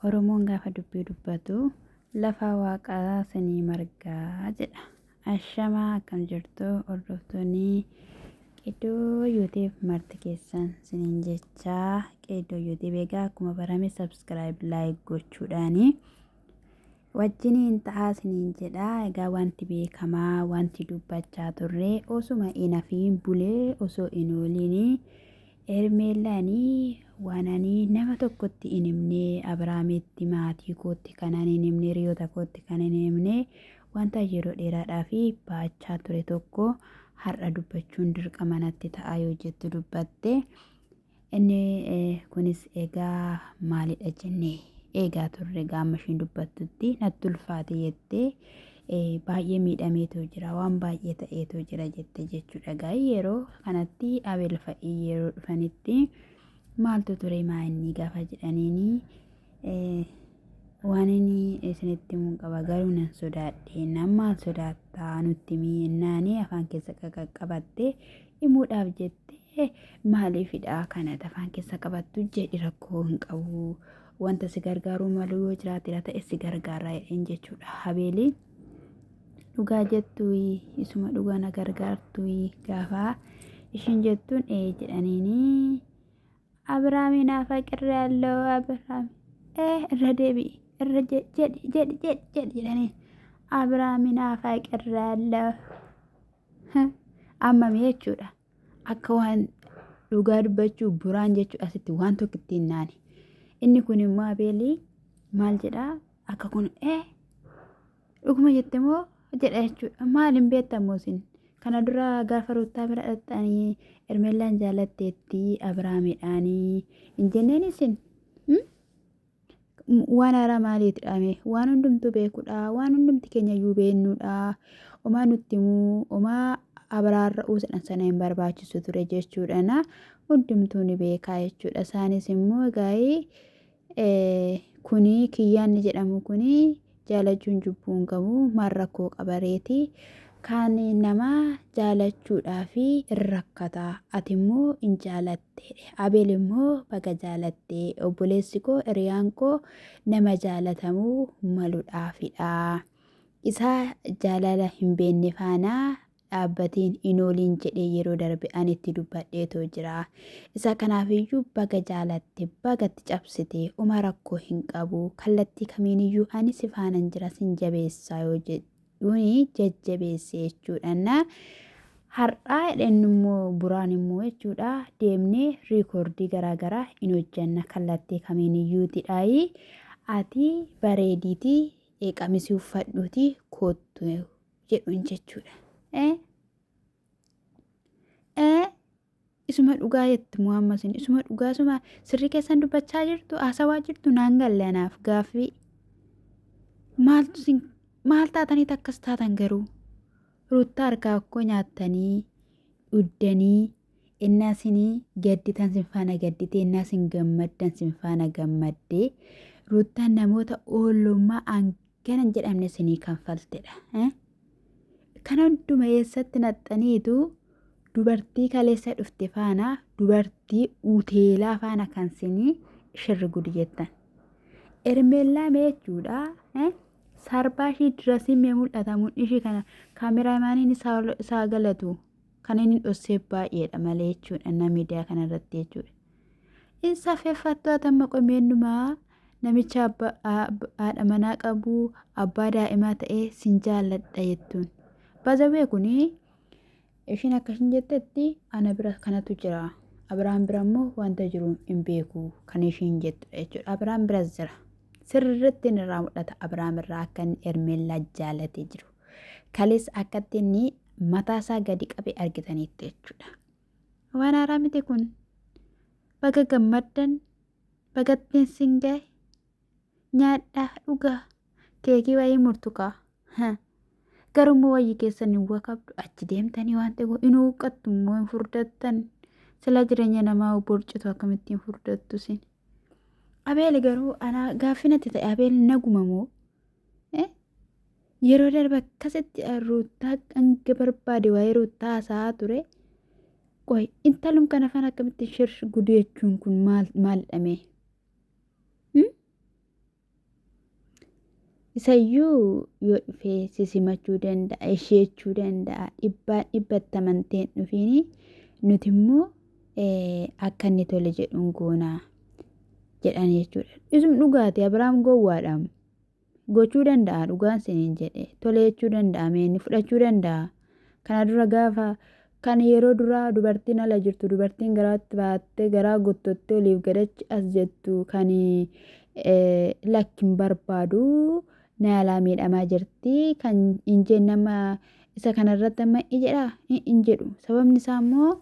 Oromoon gaafa dubbii dubbatu lafaa waaqaa sanii margaa jedha. Ashamaa akkam jirtu hordoftoonni Qeedoo Yuutiif marti keessan siniin jechaa Qeedoo Yuutiif egaa akkuma barame subscribe like gochuudhaani. Wajjiniin ta'aa isiniin jedha. Egaa wanti beekamaa wanti dubbachaa turre osuma hin hafiin bulee osoo hin ooliin Hermeellaanii waan ani nama tokkotti hin himne Abiraamitti maatii kootti kanan hin himne hiriyoota kootti kan hin himne wanta yeroo dheeraadhaa fi baachaa ture tokko har'a dubbachuun dirqama natti ta'a yoo jettu dubbatte. Inni kunis egaa maalidha jennee eegaa turre egaa amma ishiin dubbattutti natti ulfaate jettee baay'ee miidhameetoo jira waan baay'ee ta'eetoo jira jette jechuudha egaa yeroo kanatti abeel fa'ii yeroo dhufanitti maaltu ture maa inni gaafa jedhaniini Waan inni isinitti himuun qaba garuu nan sodaadhe nan maal sodaattaa nutti himii ennaanii afaan keessa qaqqabattee himuudhaaf jettee maaliifidha kana afaan keessa qabattu jedhi rakkoo hin qabu wanta si gargaaruu malu yoo jiraatedha ta'e si gargaara jedheen jechuudha habeelii dhugaa jettuyi isuma dhugaa na gargaartuyi gaafaa ishiin jettuun ee jedhaniinii Abraamiin afaqirri alloo Abraam ee irra deebi'i irra je- jedhi jedhi jedhi jedhi jedhanii Abraamiin afaqirri alloo ammami jechuudha akka waan dhugaa dubbachuu buraan jechuu asitti waan tokko ittiin naani inni kun immoo abeelii maal jedhaa akka kun ee Dhuguma jette moo jedha jechuudha. Maal hin beektan moo isin? Kana dura gaafa ruuttaa bira dhaqxanii Ermeellaan jaalatteetti Abiraamidhaanii hin jenneen isin? Hmm? waan haaraa maaliiti dhaame waan hundumtuu beekudha waan hundumti keenya iyyuu beeknudha omaa nutti immoo omaa abaraarra uusadhan sana hin barbaachisu ture jechuudhana hundumtuu ni beekaa jechuudha isaanis immoo egaa'ee Kunii kiyyaa inni jedhamu kunii jaalachuun jubbuu hin qabu maal rakkoo qaba reeti kaan nama jaalachuudhaaf hin rakkata ati immoo hin jaalatte abeel immoo baga jaalatte obboleessi koo hiriyaan koo nama jaalatamuu maluudhaafidha isaa jaalala hin beenne faanaa dhaabbatiin hin ooliin jedhee yeroo darbe ani itti dubbadheetoo jira. Isa kanaafiyyuu baga jaalatte baga itti cabsite uma rakkoo hin qabu kallattii kamiiniyyuu ani si faanan jira sin jabeessaa yoo jedhuuni jajjabeesse jechuudhaan har'aa jedhan immoo buraan immoo jechuudha deemnee riikoordii garaagaraa hin hojjanna kallattii kamiiniyyuu tidhaayi ati bareediitii qamisii uffadhuutii koottu jedhuun jechuudha. Ee ee isuma dhugaa jetti muhammas hin isuma dhugaa isuma sirrii keessan dubbachaa jirtu haasawaa jirtu naan galle anaaf gaaffii maaltu sin maal taatanii takkas taatan garuu ruuttaa harkaa akkoo nyaattanii dhuddanii innaa sinii gadditan sin faana gaddite innaa sin gammaddan sin faana gammadde ruuttaan namoota oolummaa Gana hin jedhamne isinii kanfaltedha. eh? Kana hunduma eessatti naxxaniitu dubartii kaleessa dhufte faana dubartii uteelaa faana kan sinii shirri gudi jettan. Ermeellaa mee jechuudha. eh? Sarbaa ishii dirasiin mee mul'ata mudhii ishii kana kaameraamaaniin isaa ol- isaa galatu kan inni dhossee baay'eedha malee jechuudha na miidiyaa kanarratti jechuudha. Hin safeeffattu atamma qomeennumaa Namicha haadha manaa qabu abbaa daa'imaa ta'ee sin jaalladha jettuun. Baazawwee kun ishiin akka ishiin jettetti ana bira kanatu jira. Abiraam bira immoo wanta jiru hin beeku kan ishiin jettudha jechuudha. Abiraam biras jira. Sirriitti inni irraa mul'ata Abiraam irraa akka inni Ermeellaa jaallatee jiru. Kalees akkatti inni mataasaa gadi qabe argitaniitti jechuudha. Waan haaraa miti kun. Baga gammaddan Baga ittiin sin gahe. Nyaadhaa, dhugaa. Keekii wayii murtukaa. Ha. Garummoo wayyi keessan hin wakabdu achi deemtanii waan ta'e hin huuqqattu immoo hin furdattan. Sila jireenya namaa borcitu akkamitti hin furdattu sin. Abeel garuu anaa gaaffii natti ta'e Abeel naguma moo? Eh? Yeroo darbe akkasitti Ruuttaa hanga barbaade waa'ee Ruuttaa haasa'aa ture. Qoy intalum kana fana akkamitti shir gudu jechuun kun maal maalidha mee? Hmm? Isayyuu yoo dhufee si simachuu danda'a, ishee jechuu danda'a, dhibbaan dhibbatti amantee hin dhufiini. Nuti immoo eh, akka inni tole jedhuun goonaa jedhan jechuudha. Isum dhugaati Abiraam gowwaadhaam. gochuu danda'a dhugaan siniin jedhe tole jechuu danda'a mee inni fudhachuu danda'a kana dura gaafa kan yeroo duraa dubartiin ala jirtu dubartiin garaatti baattee garaa guttottee oliif gadachi as jettu kan lakkin barbaadu na alaa miidhamaa jirti kan hin jenne amma isa kanarratti amma i jedha hin jedhu sababni isaa immoo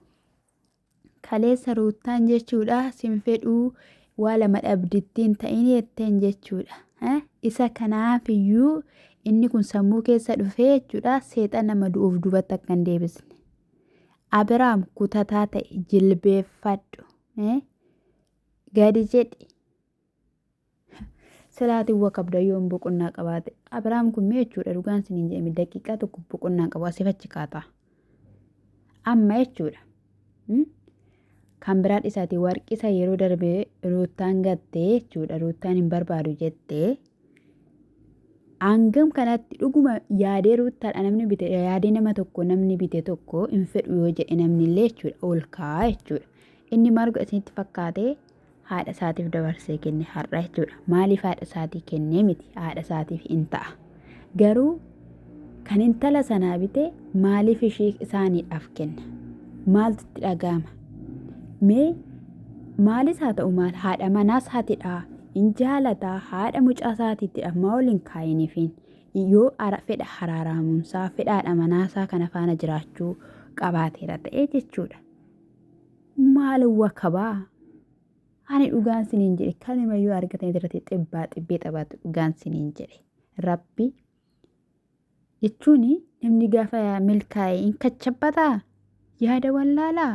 Kaleessa Ruuttaan jechuudha sin fedhuu waa lama dhabdittiin ta'in jetteen jechuudha. Isa kanaafiyyuu inni kun sammuu keessa dhufee jechuudha seexan nama du'uuf duubatti akka hin deebisne. Abiraam kutataa ta'e jilbeeffadhu. Gadi jedhi. Salaatiin wa qabda yoon boqonnaa qabaate. Abiraam kun mee jechuudha dhugaan siniin jedhame daqiiqaa tokko boqonnaan qabu asif achi kaata. Amma jechuudha. Kan biraa dhisaati warqisa yeroo darbe ruuttaan gattee jechuudha ruuttaan hin barbaadu jettee. Hangam kanatti dhuguma yaadee ruuttaadha namni bite yaadee nama tokko namni bite tokko hin fedhu yoo jedhe namni illee jechuudha ol kaa'aa jechuudha. Inni maal godha isinitti fakkaatee? haadha isaatiif dabarsee kenne har'a jechuudha. Maaliif haadha isaatii kennee miti haadha isaatiif in ta'a. Garuu kan intala sanaa bite maaliif ishii isaaniidhaaf kenna? Maaltu itti dhaga'ama? Mee maalis haa ta'u maal haadha manaa isaatiidhaa in jaalataa haadha mucaa isaatiitti ammaa ol hin kaa'iniifiin yoo ara fedha haraaraamuunsaa fedhaadha manaasaa kana faana jiraachuu qabaateera ta'e jechuudha. maal wakabaa ani dhugaan siniin jedhe kanuma yoo argatan irratti xibbaa xibbee taphaatu dhugaan siniin jedhe rabbi jechuun namni gaafa milkaa'e hin kachabbataa yaada wallaalaa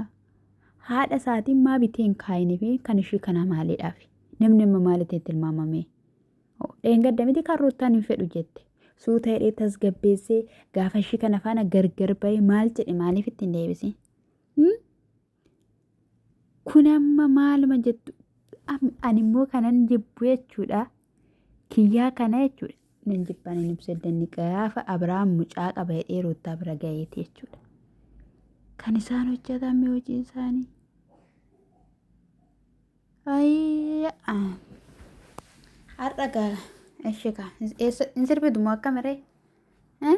haadha isaatiin maa bitee hin kaa'inii fi kan ishii kana maaliidhaaf namni amma maalitiin tilmaamamee dheengadda miti kan ruuttaan hin fedhu jette suuta hidhee tasgabbeessee gaafa ishii kana faana gargar ba'ee maal jedhe maaliif ittiin deebisee Hmm? Kun amma maaluma jettu Am- ani immoo kanan jibbu jechuudha. Kiyyaa kana jechuudha. Nan jibban hin ibsu danni gaafa Abiraam mucaa qaba jedhee Ruuttaa bira gaheeti jechuudha. Kan isaan hojjetan mee hojii isaanii. Ayii ah. har'a gaala. Eshi kaa hin sirbitu moo akka miree? Eh?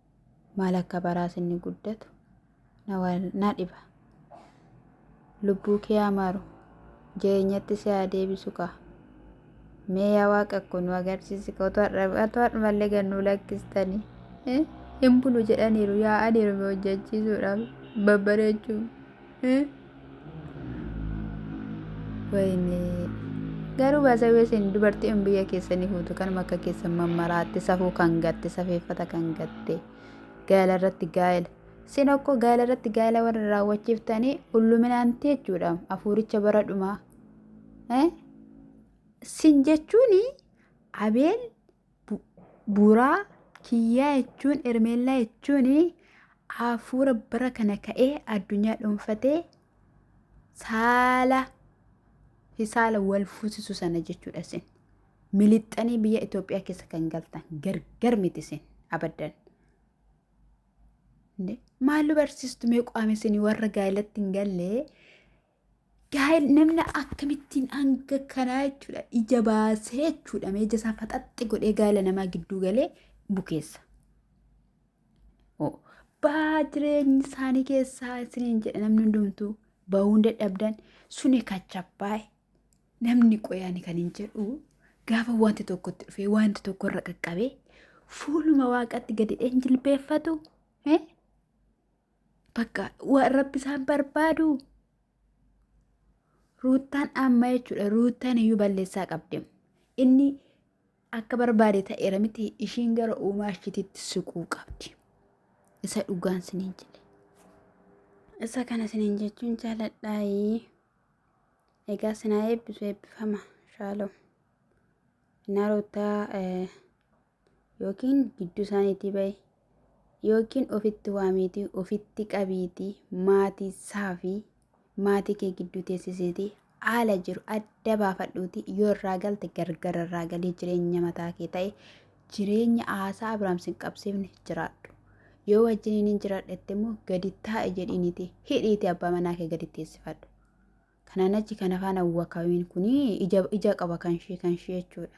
maal akka baraas inni guddatu na dhiba lubbuu kee amaaru jireenyatti si haa deebisu kaa mee yaa waaqa kun nu agarsiisi ka otoo har'umallee gad nu lakkistanii hin bulu jedhaniiru yaa'aniiru hojjechiisuudhaaf babbareechuuf. Wayinee. Garuu baasawee isin dubartiin biyya keessanii fuutu kanuma akka keessan mammaraatti safuu kan gatte safeeffata kan gatte gaa'ela irratti gaa'ela. Isin okkoo gaa'ela irratti gaa'ela warra raawwachiiftanii ulluminaanti jechuudha afuuricha bara dhumaa. Eh? Sin jechuun Abeel Buraa kiyyaa jechuun Ermeellaa jechuun hafuura bara kana ka'ee addunyaa dhuunfatee saala fi saala wal fuusisu sana jechuudha isin. Milixxanii biyya Itoophiyaa keessa kan galtan gargar miti isin abaddan. Maallu barsiistu mee qaama isin warra gaa'elatti hin gallee Gaa'el namni akkamittiin hanga kanaa jechuudha ija baasee jechuudha mee ija isaa faxaxxi godhee gaa'ela namaa gidduu galee bukeessa. Oo, Baa jireenyi isaanii keessaa isiniin jedha namni hundumtuu bahuun dadhabdan suni kachabbaaye namni qoyaani kan hin jedhu gaafa wanti tokkotti dhufee wanti tokko irra qaqqabee fuuluma waaqatti gadi hin jilbeeffatu. Eh? Bakka waan rabbi isaan barbaadu ruuttaan amma jechuudha ruuttaan iyyuu balleessaa qabdi. Inni akka barbaade ta'eera miti ishiin gara uumaa ishiititti siquu qabdi. Isa dhugaan siniin jedhe. Isa kana siniin jechuun jaaladhaayii. Egaa sinaa eebbisu eebbifama shaalom. Innaa ruuttaa yookiin gidduu isaaniitii ba'i yookiin ofitti waamiitii ofitti qabiitii maatii isaa fi maatii kee gidduu teessisiitii haala jiru adda baafadhuutii yoo irraa galte gargar irraa galii jireenya mataa kee ta'e jireenya haasaa Abiraam sin qabsiifne jiraadhu. Yoo wajjiniin hin jiraadhetti immoo gadi taa'e jedhiiniti hidhiiti abbaa manaa kee gadi teessifadhu. Kanaan achi kana faana wakabiin kun ija qaba kan ishee kan ishee jechuudha.